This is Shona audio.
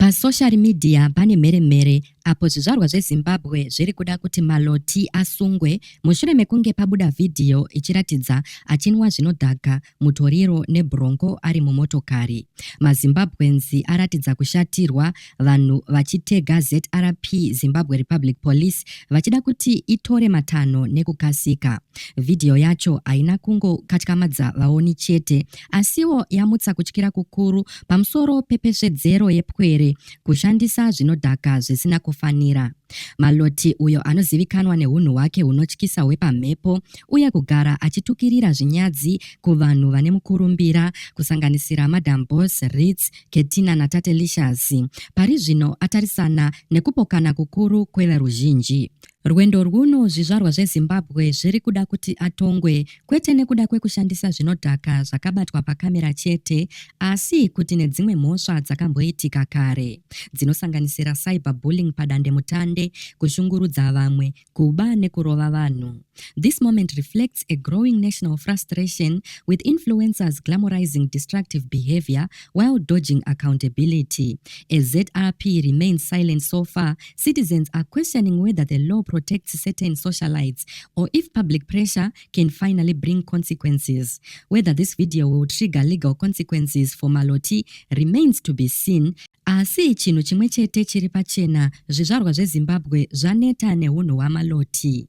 Pasocial media pane mheremhere apo zvizvarwa zveZimbabwe zviri kuda kuti Maloti asungwe mushure mekunge pabuda vhidhiyo ichiratidza achinwa zvinodhaka mutoriro nebronco ari mumotokari. MaZimbabweans aratidza kushatirwa vanhu vachitega ZRP Zimbabwe Republic Police vachida kuti itore matanho nekukasika. Vhidhiyo yacho haina kungokatyamadza vaoni chete asiwo yamutsa kutyira kukuru pamusoro pepesvedzero yepwere kushandisa zvinodhaka zvisina kufanira. Maloti uyo anozivikanwa neunhu hwake hunotyisa hwepamhepo uye kugara achitukirira zvinyadzi kuvanhu vane mukurumbira kusanganisira Madam Boss, Ritz, Ketina naTate Licious, pari zvino atarisana nekupokana kukuru kweveruzhinji. Rwendo rwuno zvizvarwa zveZimbabwe zviri kuda kuti atongwe kwete nekuda kwekushandisa zvinodhaka zvakabatwa pakamera chete asi kuti nedzimwe mhosva dzakamboitika kare dzinosanganisira cyber bullying padandemutande, kushungurudza vamwe, kuba nekurova vanhu. This moment reflects a growing national frustration with influencers glamorizing destructive behavior while dodging accountability. As ZRP remains silent so far, Citizens are questioning whether the law protects certain socialites or if public pressure can finally bring consequences. Whether this video will trigger legal consequences for Maloti remains to be seen. Asi chinhu chimwe chete chiri pachena, zvizvarwa zveZimbabwe zvaneta nehunhu hwaMaloti.